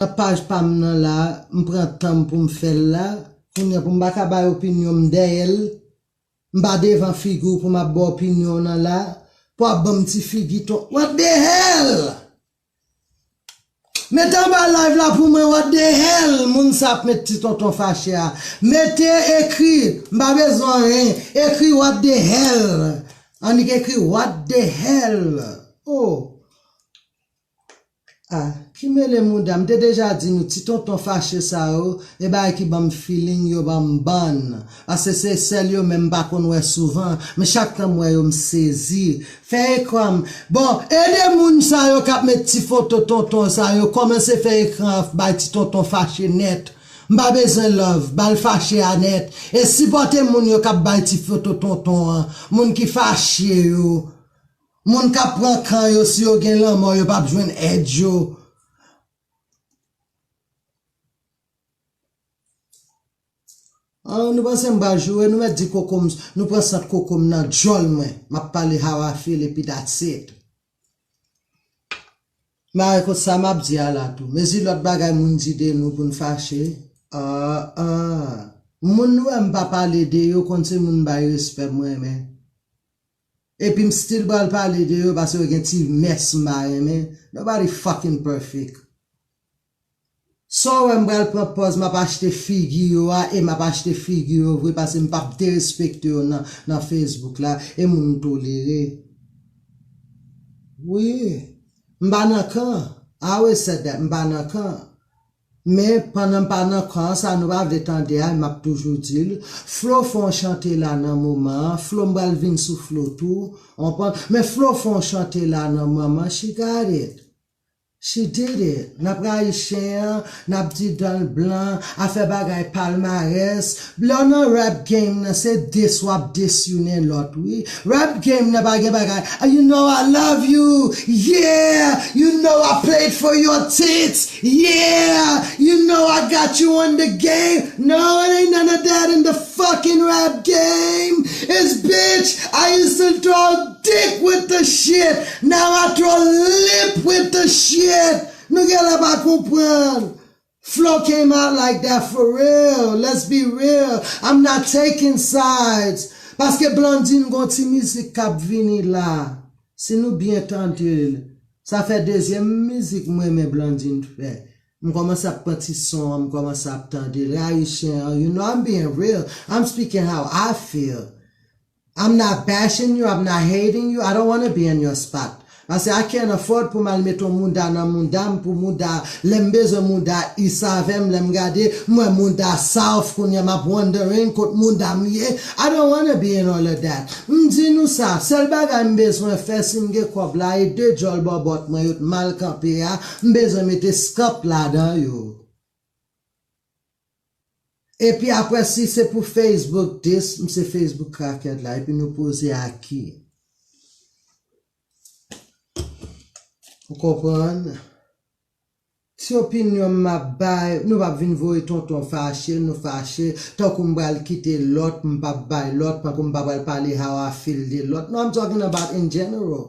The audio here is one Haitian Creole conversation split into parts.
Paj pa m nan la, m pran tan m pou m fè l la. Kounye a pou m pa ka bay opinyon m dèyè l. M pa devan figi w pou m ap ba w opinyon w nan la. Pou ap ban m ti figi ton. What the hell! Mete anba live la pou mwen what the hell! Moun sa ap met ti tonton fache a. Mete ekri, m pa bezwen anyen, ekri what the hell! Annik ekri what the hell! Oh! Ah ki mele mouda m te deja di nou ti tonton fache sa yo e bagay ki banm feeling yo banm bann pase se sel yo menm m pa konn wè souvan men chak tan m wè yo m sezi fè ekran m bon ede moun sa yo kap met ti foto tonton sa yo komanse fè ekran an bay ti tonton fache nèt m pa bezwen love bal fache a nèt e sipòte moun yo kap bay ti foto tonton an moun ki fache yo Moun kap pran kan yo si yo gen lanmò yo pap jwenn èd yo An nou panse m pral joure nou mèt di koko m nou pran sant koko m nan djòl mwen map pale how I feel epi that's it M pare kot sa map di a la tou mezi lòt bagay moun di de nou poun fache ah ah moun nou wè m pa pale de yo konn se moun m bay respè m renmen. Epi m still pral pale de yo paske yo gen ti mès m pa renmen, nobody fucking perfect. Sa w wè m pral pran pòz m ap achte figi yo a e m ap achte figi yo vre paske m p ap derespekte yo nan nan Facebook la e moun m tolere. Wi. M pa nan kan. I always said that, m pa nan kan. Men pandan m pa nan kan an sa nou pa vle tande a e map toujou di l, Flo fè yon chante la nan moman an, Flo m pral vin sou Flo tou, ou konprann, men Flo fè yon chante la nan moman an she got it, she did it, nap rayi chen an, nap di dan l blan, afè bagay palmarès, Lèw nan rap game nan se diss wap diss youne lòt wi rap game nan pa gen bagay you know I love you yeah you know I played for your tits yeah you know I got you on the game no it ain't none of that in the fucking rap game it's bitch I used to throw dick with the shit now I throw lip with the shit nou genlè pa konprann. Flo came out like that for real let's be real I'm not taking sides paske Blandine gon ti mizik kap vini la si nou byen tandel sa fè dezyèm mizik m renmen Blandine fè m kòmanse ap pran ti son an m kòmanse ap tandel e Haitian an you know I'm being real I'm speaking how I feel I'm not bashing you, I'm not hating you, I don't wanna be in your spot. Pase I can't afford pou mal met on mouda nan moudam pou mouda lèm bezwen mouda is avèm lèm gade mwè mouda south kounya map wondering kot moudam ye I don't wanna be in all of that m di nou sa sèl bagay m bezwen fè sim gen kòb la e 2 djòl bòbòt mwen yo t mal kanpe a m bezwen mete scup ladan yo. Epi aprè si se pou Facebook dis m se Facebook cracked la epi nou poze a ki? Ou konprann? Ti opinyon m map bay, nou pap vin voye tonton fache, nou fache, tankou m pral kite lòt, m pap bay lòt, tankou m pa pral pale how I feel de lòt, no I'm talking about in general.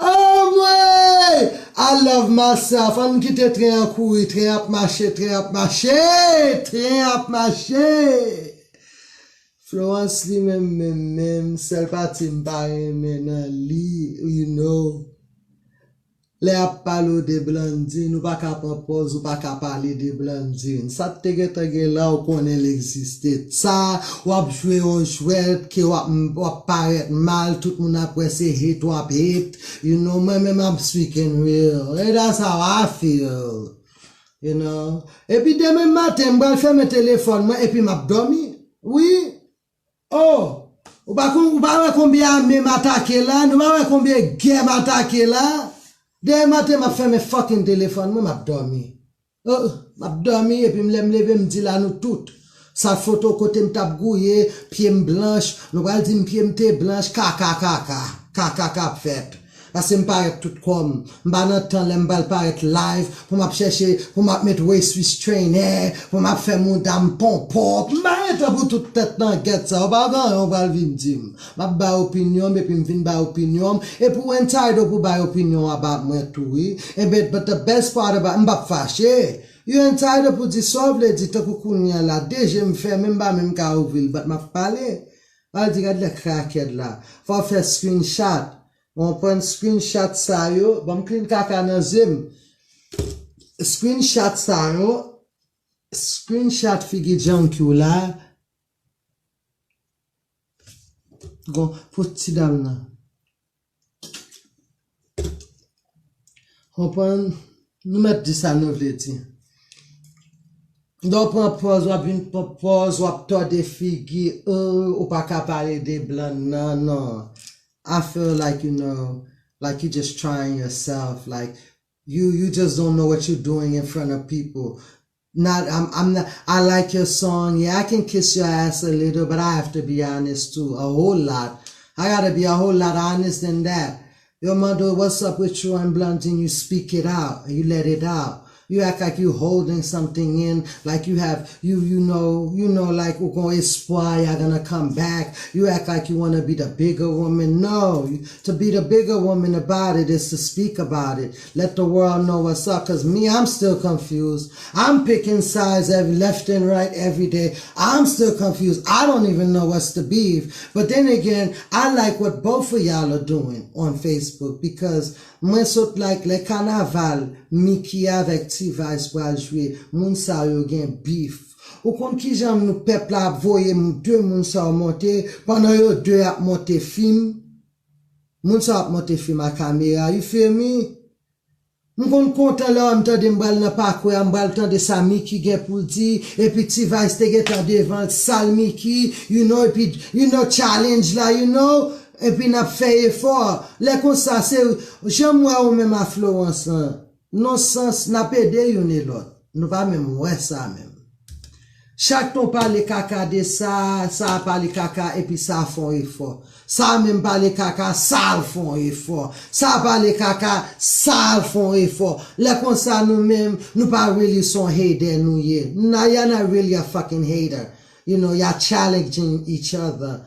Anmweyy I love myself ann kite tren an kouri tren ap mache tren ap mache tren ap mache Florence li menm menm menm sèl pati m pa renmen nan li you know. Lè yap pale w de Blandine ou paka pran pòz ou paka pale de Blandine sa t te gentan gen la ou konnen l egziste tsa wap jwe yon jwèt ke wap wap parèt mal tout moun ap wè se hate wap hate you know mwen menm I'm speaking real et that's how I feel you know epi demen maten m pral fèmen telefòn mwen epi map dòmi wi. Oh! Ou pa konn, ou pa wè konbyen ame m atake la, nou pa wè konbyen gè m atake la. Demen maten m ap fèmen fucking telefòn mwen, m ap dòmi. Oh! M ap dòmi epi m lè m leve m di la nou tout. Sa foto kote m t ap gouye, pye m blanch, nou pral di m pye m te blanch, kaka kaka. Kaka k ap fèt. Pase m parèt tout kò m. M pa nan tan lè m pral parèt live pou m ap chèche pou m ap met waist trainer pou m ap fè mouda m ponpòp. M pa gen tan pou tout tèt langèt sa yo. Pa vanyan w pral vin di m. M ap bay opinyon m epi m fin bay opinyon m epi w entitled pou w bay opinyon w about mwen tou wi. Enben but the best part about m pap fache. You entitled pou w di sa w vle di tankou kounye an la 2 je m fèmen m pa menm ka ouvri l but m ap pale. Al di gad lè krakèd la. Fòw fè screen chat ou konprann screen chat sa yo banm clean kaka nan zyem screen chat sa yo screen chat figi djanky w la gon pou ti dam nan. Konprann? Nou mèt di sa nou vle di. Lè w pran pòz, w ap vin pran pòz, w ap tòde figi, oo, ou pa ka pale de blan nan, non. I feel like you know, like you just trying yourself, like, you just don't know what you doing in front of people. not I'm I'm not I like your song yeah I can kiss your ass a little but I have to be honest too a whole lot I gotta be a whole lot honest than that yo mande w what's up with you and Blandine you speak it out you let it out you act like you holding something in like you have you you know you know like ou gon espwa ya gonna come back you act like you wanna be the bigger woman no to be the bigger woman about it is to speak about it Let the world know what's up cuz me I'm still confused I'm picking sides every left and right everyday I'm still confused I don't even know what's the beef but then again I like what both of y'all are doing on Facebook because mwen sot like lè kanaval Mickey avèk T-vice pral jwe moun sa yo gen beef ou konn kijan moun pèp la ap voye 2 moun sa yo monte pandan yo 2 ap monte film Moun sa ap monte film a kamera you feel me? M konn kontan lè m tande m pral nan pakwe a m pral tande sa Mickey gen pou l di epi T-vice te gentan devan l sal Mickey you know epi you know challenge la you know epi nap fè efò lè konsa se janm wè ou menm a Florence lan. Non sans, nap ede youn e lòt. Nou pa menm wè sa menm. Chak ton pale kaka de sa, sa a pale kaka epi sa a fè yon efò. Sa a menm pale kaka, sa a fè yon efò. Sa a pale kaka, sa a fè yon efò. Lè konsa nou menm, nou pa really son hater nou ye. N a, y'all not really a fucking hater. You know, y'all challenging each other.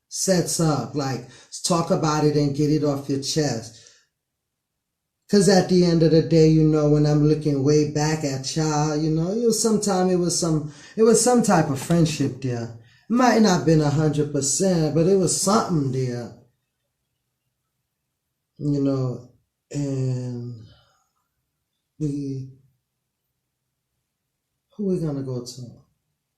sets up like talk about it and get it off your chest cuz at the end of the day you know when I'm looking way back at ya you know it was some time it was some it was some type of friendship there it might not been a hundred percent but it was something there you know and we who we gonna go to.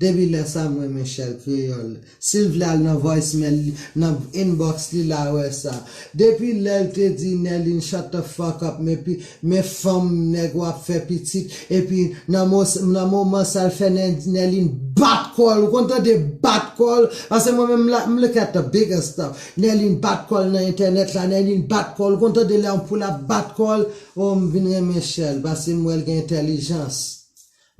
Depi lè sa m renmen Shell kreyòl. Sil vle al nan voice mail li nan inbox li la wè sa. Depi lèl te di Nerline shut the fuck up me pi me fanm nèg wap fè pitit epi nan mo nan moman sal fè Nerline bat kòl ou konn tande bat kòl pase mwen menm m look at the bigger stuff Nerline bat kòl nan entènèt la Nerline bat kòl ou konn tande lè yon poul ap bat kòl oh m vin renmen Shell pase m wèl gen entèlijans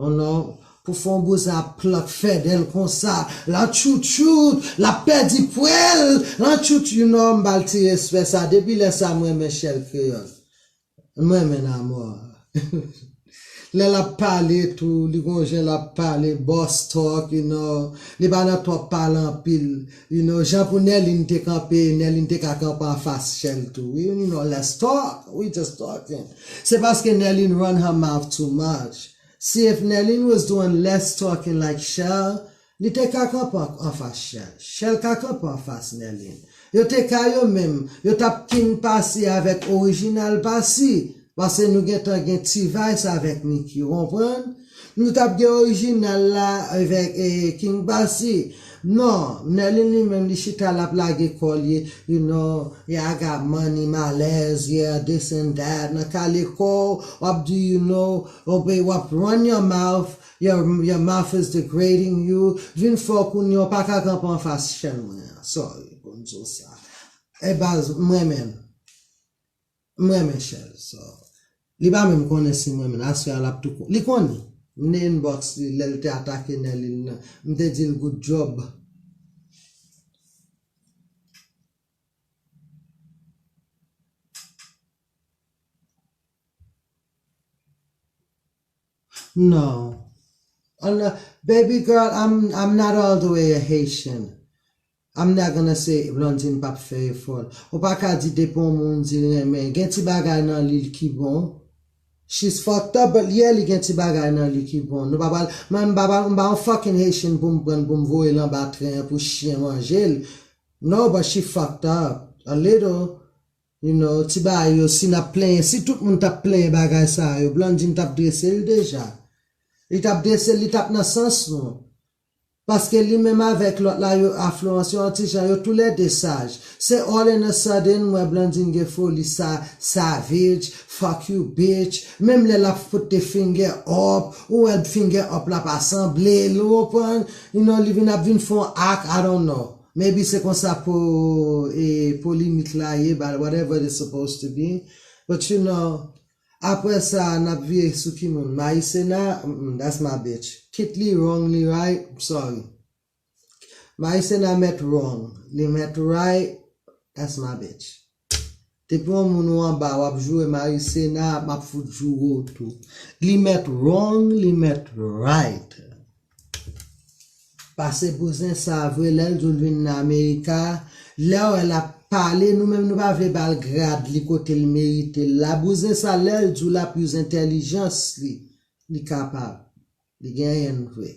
Oh non pou fonbo sa ap plant fedel konsa lan tchoutchout lap pedi pwel lan tchout you non m bal ti respè sa depi lè sa m renmen shell kreyol m renmen n amò lè lap pale tou li gon jan lap pale boss talk you know li pa nan twòp pale anpil you know jan pou nerline te kanpe nerline te ka kanpe anfas shell tou wi you know let's talk we just talking. Se paske Nerline run her mouth too much. Si if Nerline was doing less talking like Shell, li te ka kanpe anfas Shell. Shell ka kanpe anfas Nerline. Yo te ka yo menm, yo tap king pasi avèk original pasi, pase nou gentan gen T-vice avèk Nicky, ou konprann? Nou tap gen original la evek king bassy non Merline li menm li chita lap lage kò li you know yaga money malèz yeah this and that nan kale kòw wap di you know wap run your mouth your mouth is degrading you vin fò kounya ou paka kanpe anfas chèn mwen an sorry poum diw sa eh baz m renmenn. M renmen chèz sa. Li pa menm konnen si m renmen l. Aswè a l ap tou konnen. Li konnen. M te inbox li lè l te atake Nerline nan. M te di l good job. Non. Baby girl, I'm not all the way a Haitian. Amna genlè se Blandine pap fè efòl. Ou pa ka di depi on moun di l renmen, gen ti bagay nan li l ki bon. She's fucked up but yeah li gen ti bagay nan li ki bon. Nou pa pral, mwen m pa pral, m pa on fucking Haitian pou m pran l pou m voye l anba tren an pou chyen manje l. No but she fucked up a little. You know, ti bagay yo si n ap plenyen, si tout moun t ap plenyen bagay sa yo, Blandine t ap drese l deja. Li t ap drese l, li t ap nan sans nou. Paske li menm avek lot la yo afluans yo anti jan yo tou lè 2 saj se all in a sudden m wè Blandine gen foli sa savage fuck you bitch menm lè lap fout the finger up ou wèl the finger up la pa sanble l ou konprann you know li vin ap vin fè yon act I don't know maybe se konsa po e polimik la ye but whatever it is supposed to be but you know. Aprè sa nap vire sou ki moun Maïcena mm that's my bitch kit li wrong li right m sorry Maïcena mèt wrong li mèt right that's my bitch. Depi yon moun ou anba wap joure Maïcena map fout joure w tou li mèt wrong li mèt right. Pase bouzen sa vre lèl dil vin nan america lèw wè lap pale nou menm nou pa vle bal grad li kotel meritel la bouzen sa lèl diw lap use entèlijans li li kapab li genyenl vre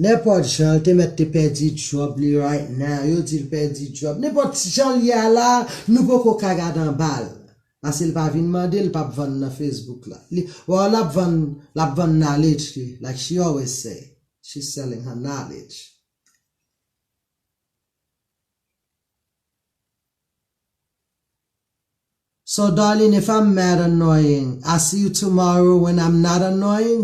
nenpòt janl te mèt te pèdi job li right now yo dil pèdi job nenpòt janl ye a la nou poko ka gad anbal. Pase l pa vin mande l pap vann nan Facebook la li waw lap vann lap vann knowledge li like she always say she's selling her knowledge. So Darline if I'm mad annoying I see you tomorrow when I'm not annoying?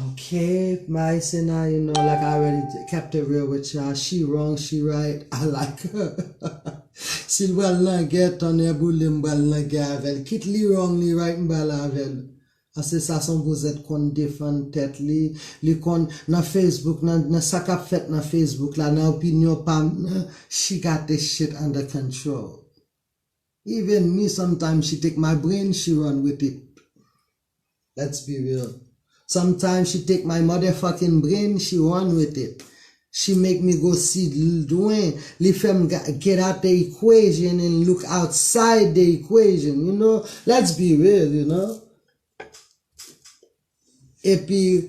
Ok my sena you know like I already kept it real with ya she wrong she right I like her sil pral nan gè tonnè boulem m pral nan gè avèl kit li wrong li right m pral avèl paske sa son vouzèt konn defann tèt li li konn nan facebook nan sa kap fèt nan facebook la nan opinyon pam nan she got this shit under control even me sometimes she take my brain she run with it. Let's be real Sometimes she take my motherfucking brain she run with it She make me go si lwen Li fè m get out the equation and look outside the equation You know Let's be real you know Epi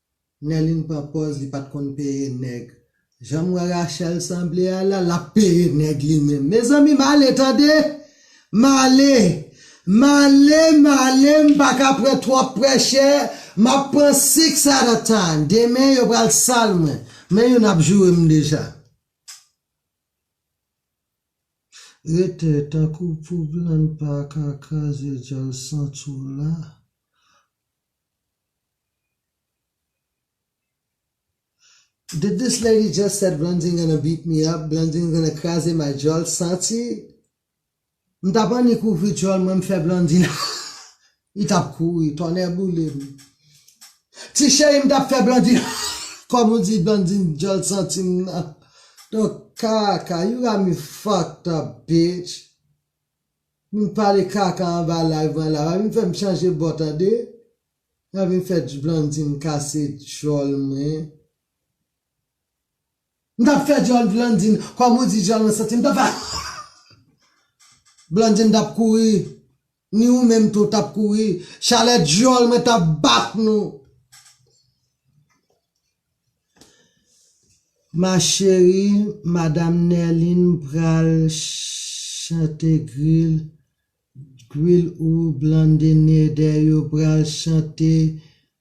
Nerline pran pòz li pat konn peye nèg. Janm wè Rachelle sanble a la lap peye nèg li menm mezanmi male tande male male male mpaka pran twòp prèchè map pran six at a time demen yo pral sal mwen men youn ap jourem deja rete tankou pou blan paka kraze dyòl santi w la. Did this lady just said Blandine gonna beat me up, Blandine gonna kraze may djòl santi m tap annik ouvri djòl mwen m fè Blandine ahh li tap kouri tonnè boule m ti cheri m tap fè Blandine ahh kòm ou di Blandine djòl santi m nan nan kaka you got me fucked up bitch vin pale kaka anba live mwen la pa vin fè m chanje bò tande. Mwen vin fè Blandine kase djòl mwen. M tap fè djòl Blandine kòm ou di djòl mwen santi m tap fè Blandine tap kouri ni ou menm tou tap kouri chalè djòl mwen tap bat nou Ma chérie madame Nerline pral chante grill Drill ou blandene dè yo pral chante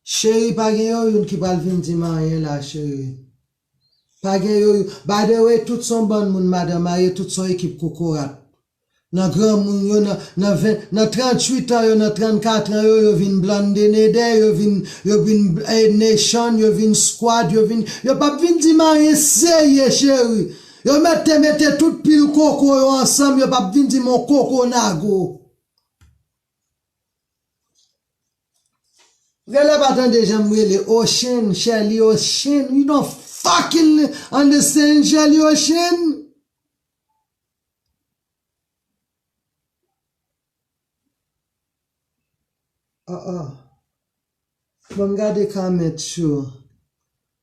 cheri pa gen yo youn ki pral vin dim anyen la cheri pa gen yo youn by the way tout son bann moun madan marye tout son ekip kokorat nan granmoun yo nan nan 20 nan 38 ans yo nan 34 ans yo yo vin blandene dè yo vin yo vin nation yo vin squad yo vin yo pap vin dim anyen serye cheri Yo met te mete tout pil koko yo ansanm yo pap vin dim on koko nago. Rele pa tande janm rele Ocean Sherley Ocean you don't fucking understand Sherley Ocean. Bon m gade comment yo.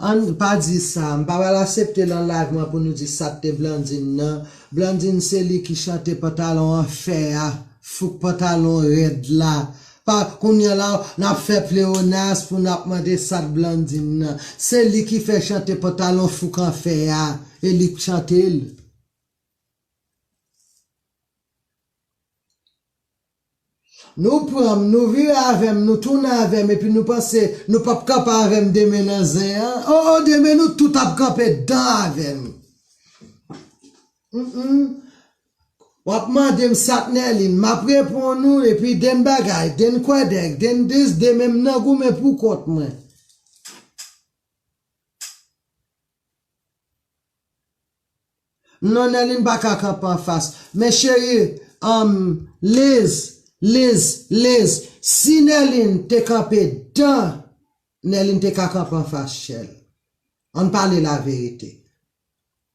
Ann pa di sa, m pa pral asepte lan live mwen pou nou di sa t te Blandine nan, Blandine se li ki chante pantalon an fè a, fouk pantalon rèd la, pa kounya la nap fè pleonas pou nap mande sa t Blandine nan, se li ki fè chante pantalon fouk an fè a, e li k chante l. Nou pran m, nou vire avè m, nou tounen avè m epi nou panse nou p ap kanpe avè m demen nan zen an. O o, demen nou tout ap kanpe dan avè m. Hum hum. W ap mande m sa k Nèlin, m ap reponn ou epi den bagay, den kwèdèk, den dis, demen m nan goumen poukont mwen. Non Nelly m paka kanpe anfas. Men cherie humm Liz Liz Liz si Nerline te kanpe dan Nerline te ka kanpe anfas chèl ann pale la verite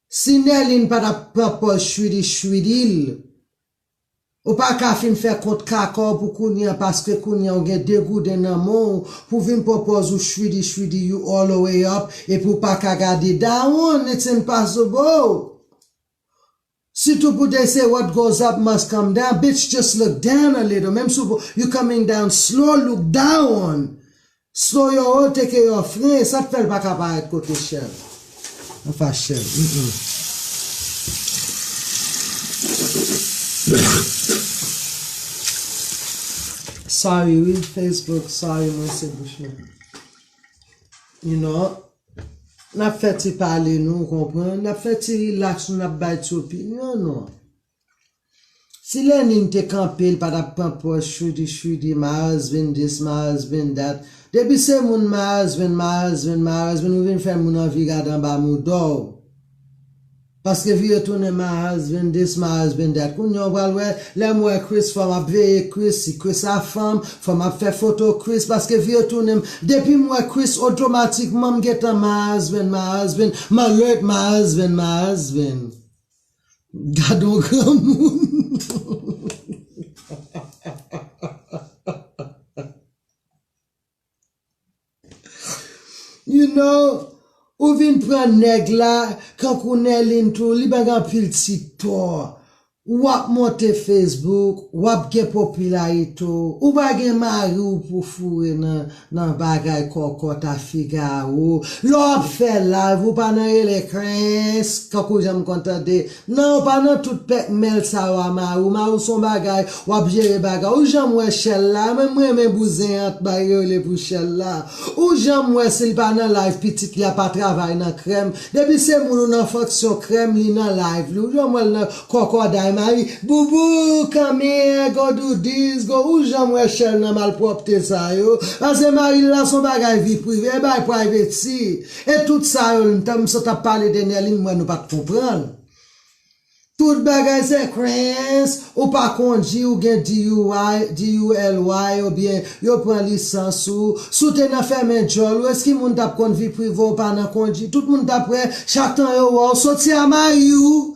si Nerline pa tap pran pòz chwidi chwidi l Ou pa ka fin fè kont kaka w pou kounye an paske kounye an ou gen 2 gouden nan men w pou vin pran pòz ou chwidi chwidi you all the way up epi ou pa ka gade dawonn it's impossible sitou pou they say what goes up must come down bitch just look down a little menm si w you coming down slow look dawonn Snow yon honte ke yon fren sak fèl paka parèt kote Shell nan fas Shell humm. Sorry wi Facebook sorry mwen se bouch mwen you know nap fè ti pale nou ou konprann nap fè ti relax nou nap bay ti opinyon nou. Si Lenin te kanpe li pa tap pran pòz chwidi chwidi Mars vin dis Mars vin dat depi se moun Mars vin Mars vin Mars vin ou vin fè moun anvi gad anba moudaw paske vi yo tounen Mars vin dis Mars vin dat kounya ou pral wè lèm wè Chris fòm ap veye Chris si Chris a fanm fòm ap fè foto Chris paske vi yo tounenm depim wè Chris otomatikman m gentan Mars vin Mars vin m alert Mars vin Mars vin. Gadon granmoun. You know, ou vin pran nèg la kankou Nerline tou li bay anpil ti tò. Wap monte Facebook, wap gen popilarite w, ou pa gen mari w pou foure nan. Nan bagay kòkòt a Figaro lè w ap fè live ou pa nan rele Krens kankou jan m konn tande nan ou pa nan tout pèkmèl sa yo a mari w mari w son bagay w ap jere bagay ou janm wè chèl la a menm m renmen bouzen an t bay rele pou chèl la a ou janm wè si l pa nan live pitit li a pa travay nan krèm depi se moun ou nan fonksyon krèm li nan live li ou janm wè l nan Kòkòday mari boubou kanmie go do this go ou janm wè chèl nan malpwòpte sa yo pase maril la son bagay vi prive bay privacy e tout sa yo lntan m sot ap pale de Nerline m wè nou pat konprann tout bagay se krenns ou pa kondi ou gen DUI DULY ou byen yo pran lisans ou si w te nan fèmen djòl ou eski moun tap konn vi prive w pa nan kondi tout moun tap wè chak tan yo wè w soti a mari w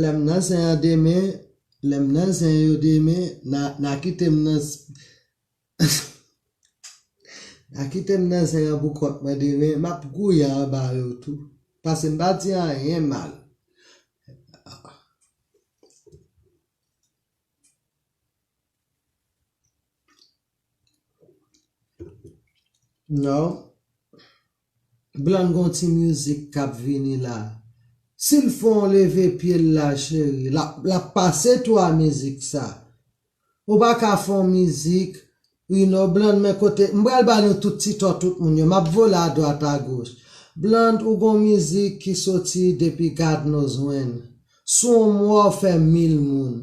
Lè m nan zen an demen, lè m nan zen yo demen, na kite m nan Na kite m nan zen an pou kont mwen demen, m ap gouye anba yo tou pase m pa di anyen mal. Blonde gon ti music kap vini la sil fon leve pyel la cheri lap pase tou a mizik sa ou paka fon mizik ui non Blonde men kote mpral ba nou tout ti to tout moun yo map vole a dwat a goch Blonde ou gon mizik ki soti depi God knows when Sou on mwa ou fè mil moun.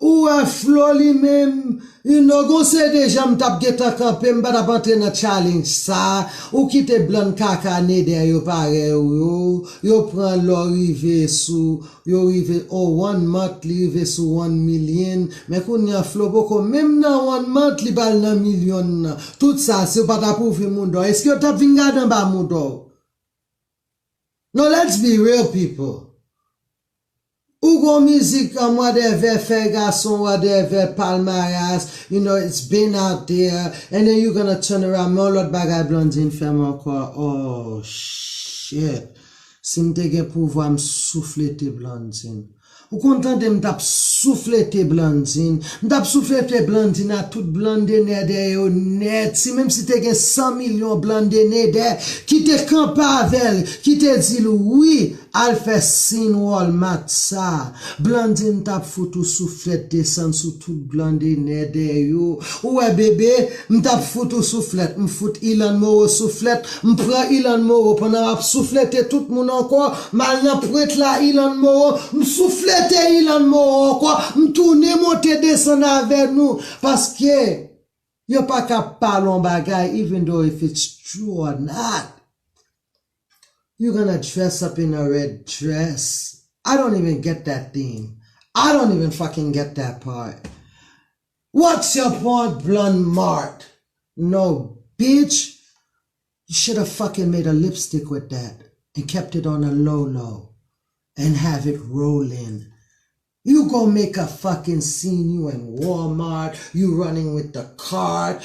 Ou wè Flo li menm u no gon CD jan m tap gentan kanpe m pa tap antre nan challenge sa ou kite blan kaka neder yo parèy ou yo yo pran lò rive sou yo rive oh one month li rive sou one million men kounya Flo poko menm nan one month li pral nan million nan tout sa si ou pa tap ouvri moudaw eske yo tap vin gade anba moudaw. Non let's be real people ou gon mizik an mwadèvè fè gason wadèvè palmarès you know it's been out there and then you gonna turn around men yon lòt bagay Blandine fèm ankò ohh shit sim te gen pouvwa m souflete Blandine. Ou konn tande m tap souflete Blandine. M tap souflete Blandine a tout blandenèdè yo nèt si menm si te gen 100 milyon blandenèdè ki te kanpe avè l ki te di l wi al fè sin walmart sa Blandine tap fout ou souflèt desann sou tout blandenèdè yo ou wè bebe m tap fout ou souflèt m fout Ilann Moro souflèt M pran Ilann Moro pandan m ap souflete tout moun ankò, m al nan pwent la Ilann Moro, m souflete Ilann Moro ankò, m tounen monte desann avè nou, paske yo pa ka pale yon bagay even though if it's true or not, you gonna dress up in a red dress, I don't even get that theme, I don't even fucking get that part. What's your point blonde mart no bitch you should have fucking made a lipstick with that and kept it on the low low and have it rolling you go make a fucking scene you in walmart you running with the cart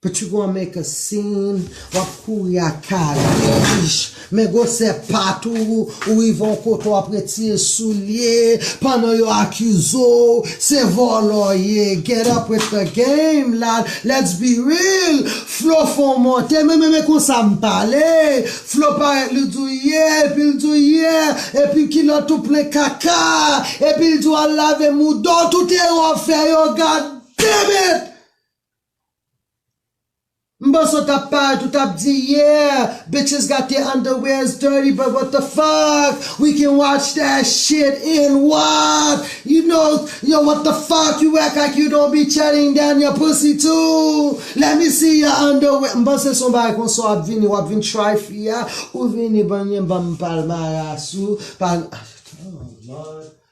Petit gwa make a scene, wap kouri ak kalich, men gwosè pat ou, ou rive yon kote wap retire soulye pandan yo akize w se vòlò w ye, get up with the game la, let's be real, Flo fè yon monte men men konsa m pale, Flo parèt li di w ye epi l di w yeah epi kilòt ou plen kaka epi l di w al lave mouda w tout erè w fè yo god damn it! M panse w tap paret ou tap di yeah bitches got their underwears dirty but what the fuck we can watch that shit and what you know yo what the fuck you act like you don't be chatting down your pussy too let me see your underwear m panse son bagay konsa w ap vini w ap vin try fi a ou vini banm yon banm palmaras ou pa oh lord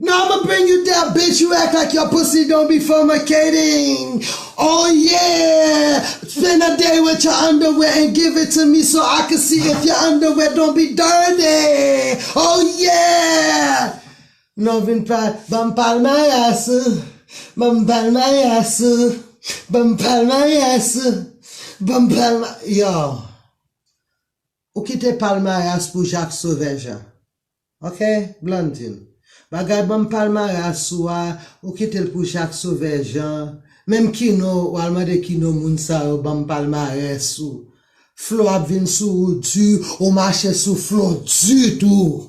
Now I'ma bring you that bitch you act like your pussy don't be formicating oh yeah Spend a day with your underwear and give it to me so I can see if your underwear don't be dirty oh yeah Now vin pa banm palmarès ou Banm palmarès ou Banm palmarès ou Banm palma Yow Ou kite palmarès pou Jacques Sauvage a Ok Blandine. Bagay banm palmarès ou a ou kitel pou Jacques Sauveur Jean menm kino ou al mande kino moun sa yo banm palmarès ou Flo ap vin sou ou du ou mache sou Flo du tou.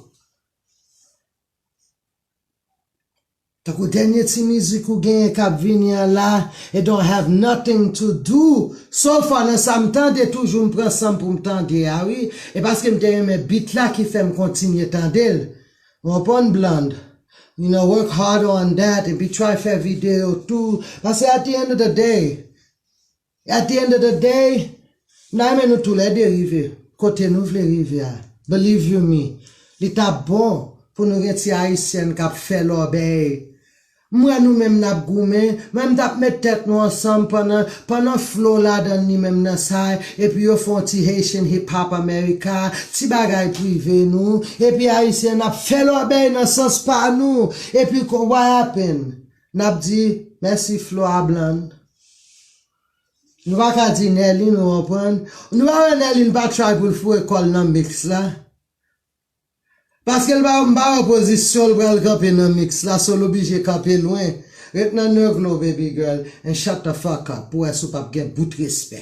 Tankou dènye ti mizik ou genyen kap vini an la it don't have nothing to do so far nan sa m tande toujou m pran sanm poum tande a wi e paske m te renmen beat la ki fèm kontinye tande l ou konprann Blonde you know work harder on that epi try fè video tou paske at the end of the day At the end of the day, m ta renmen nou tou lè 2 rive kote nou vle rive a. Believe you me, li ta bon pou nou gen ti Ayisyèn k ap fè lòbèy. M wè nou menm n ap goumen, mwen m t ap met tèt nou ansanm pandan pandan Flo ladan li menm nan sa epi yo fè yon ti Haitian Hip Hop America, ti bagay prive nou, epi Ayisyen n ap fè lòbèy nan sans pa nou, epi what happened? Nap di mèsi flo a blann. Nou pa ka di Nerline ou konprann, nou pa wè Nerline pa try poul foure kòl nan mix la. Paskel pa m pa wè pozisyon l pral kanpe nan mix la so l oblije kanpe lwen. Ret nan negl ou baby girl and shut the fuck up pou wè si w pap gen bout respè.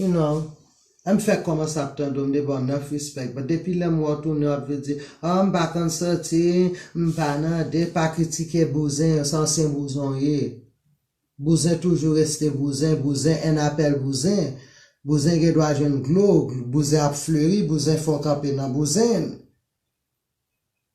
You know, m fèk kòmanse ap tande w, m devan w nèf respect, but depi lè m wè w tounen w ap vle di, oh m pa konn soti, m pa nan de, pa kritike bouzen yo, se ansyen bouzen w ye. Bouzen toujou reste bouzen, bouzen en apèl bouzen. Bouzen gen dwa jwenn glo, bouzen ap fleri, bouzen fè w kanpe nan bouzen.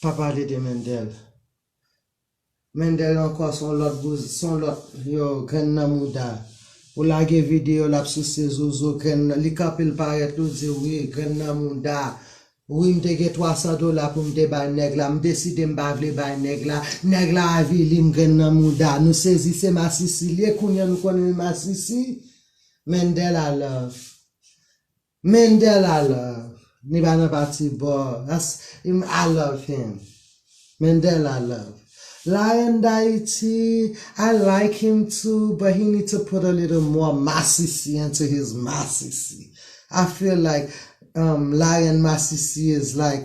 Pa pale de Mendel. Mendel ankò son lòt bouzen son lòt yo grenn nan mouda. Ou lage video lap souse zozo grenn nan li kanpe l parèt li w di wi grenn nan mouda wi m te gen 300 dola pou m te bay nèg la m deside m pa vle bay nèg la nèg la avili m grenn nan mouda nou sezi se masisi l ye kounye an nou konnen l masisi Mendel a love Mendel I love li pa nan pati boo that's im I love him Mendel I love la reine d'Haiti I like him too but he need to put a little more masisi into his masisi I feel like um la reine masisi is like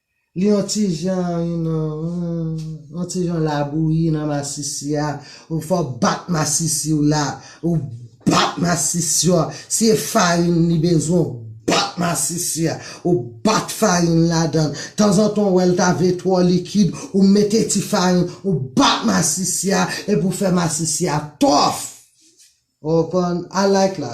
Li yon ti jan yon yon ti jan labouyi nan masisi a, ou fè w bat masisi w la, ou bat masisi a, si e farin li bezwen ou bat masisi a, ou bat farin ladan l, tanzantan ou wè l ta vle twò likid ou mete ti farin, ou bat masisi a epi ou fè masisi a tòf! Ou konprann? I like la.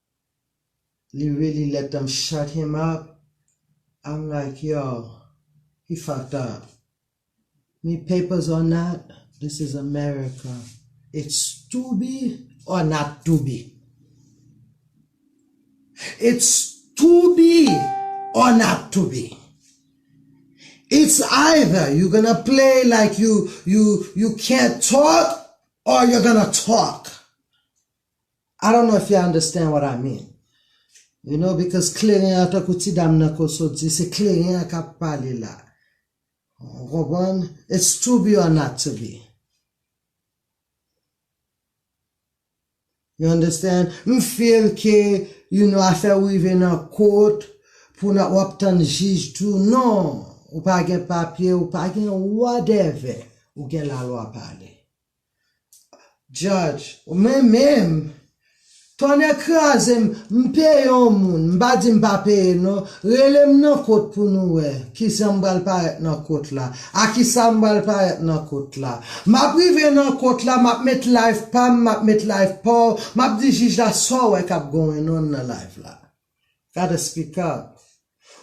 Li really let them shut him up I'm like yo he fucked up ni papers or not this is America it's to be or not to be it's to be or not to be it's either you gonna play like you you you can't talk or you're gonna talk. I don't know if ya understand what I mean you know because kleren an tankou ti dam nan ko sot di se kleren an kap pale la ou konprann it's to be or not to be you understand m feel ke you know afè ou rive nan kot pou nan wap tann jij tou non ou pa gen papye ou pa gen whatever ou gen lalwa pale. Judge, Mwen menm! Tonnè kraze m, m peye yon moun, m pa di m pa peye non, rele m nan kot pou nou wè kijan m pral parèt nan kot la, a kisa m pral parèt nan kot la. M ap rive nan kot la, m ap met life pa m, m ap met life pa w, m ap di jij la sa w wè k ap going on nan life la. Gade esplikab.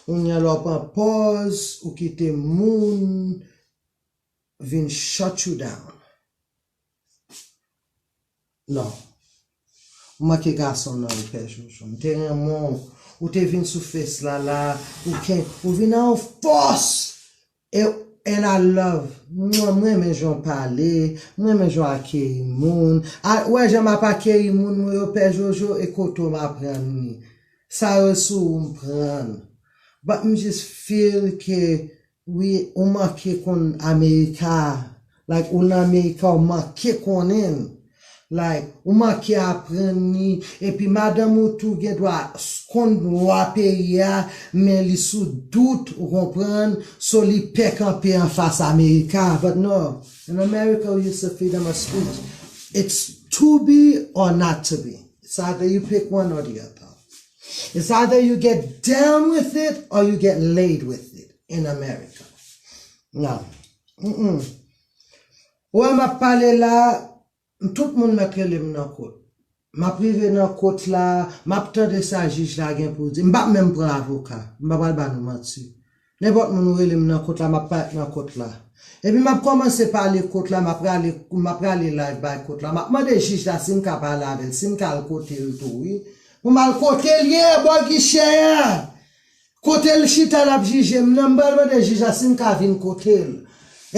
Kounya la w pran pòz ou kite moun. vin shut you down non ou manke gason nan ou pè jojo m te renmen w ou te vin sou face la la ou ken ou vin a yon fòs e and I love mwah m renmen jan w pale m renmen jan w akeyi moun a wè jan map akeyi moun mwen yo pè jojo e kote w m aprann li sa yo sou ou m prann but m just feel ke Wi ou manke konn America like ou nan America ou manke konnen l like ou manke aprann li epi madanm ou tou gen dwa konn lwa peyi a men li sou dout ou konprann so li pè kanpe anfas America but no in America ou use to freedom of speech it's to be or not to be sa vle you pick one or the other. It's either you get down with it or you get laid with it in America. Nan. Mmm. Ou wè map pale la, tout moun mèt rele m nan kot. Map rive nan kot la, map tande sa jij la gen pou di. M pap menm pran avoka. M pa pral ba nou manti. Nenpòt moun ou rele m nan kot la map parèt nan kot la. Epi map kòmanse pale kot la map rale map rale live bay kot la map mande jij la sim ka pale avèl sim ka al kotel tou wi pou mal kotel ye bò gichè a kotel chita lap jijem nan m pral mande jij la sim ka vin kotel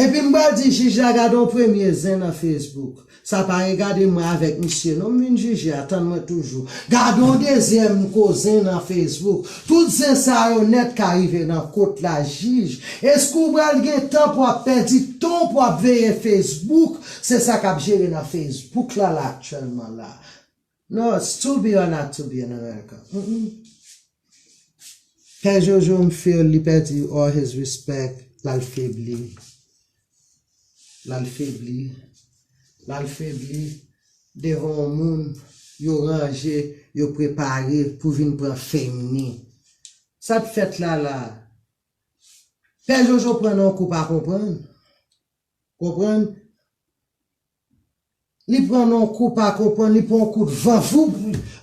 epi m pral di jij la gadon premye zen nan Facebook. Sa pa regade mwen avek misye non m vin jije a tann mwen toujou gadon dezyèm kozen nan Facebook tout zen sa yo nèt ka rive nan kot la jij eske ou bal gen tan pou ap pèdi tanw pou ap veye Facebook se sa kap jere nan Facebook la la aktyèlman la. No it's too be or not too be in America humm pè jojo m feel li pèdi all his respect lal febli lal febli lal febli devan yon moun yo ranje yo prepare pou vin pran fame ni sat fèt la la pè jojo pran nan yon kou pa konprann konprann Li pran non kou pa konprann li pran yon kout van voup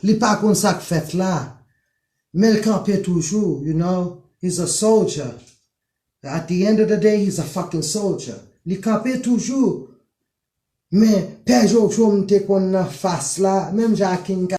li pa konn sak fèt la men l kanpe toujou you know he's a soldier at the end of the day he's a fucking soldier li kanpe toujou men pè jojo m te konn nan fas la menm jan ak king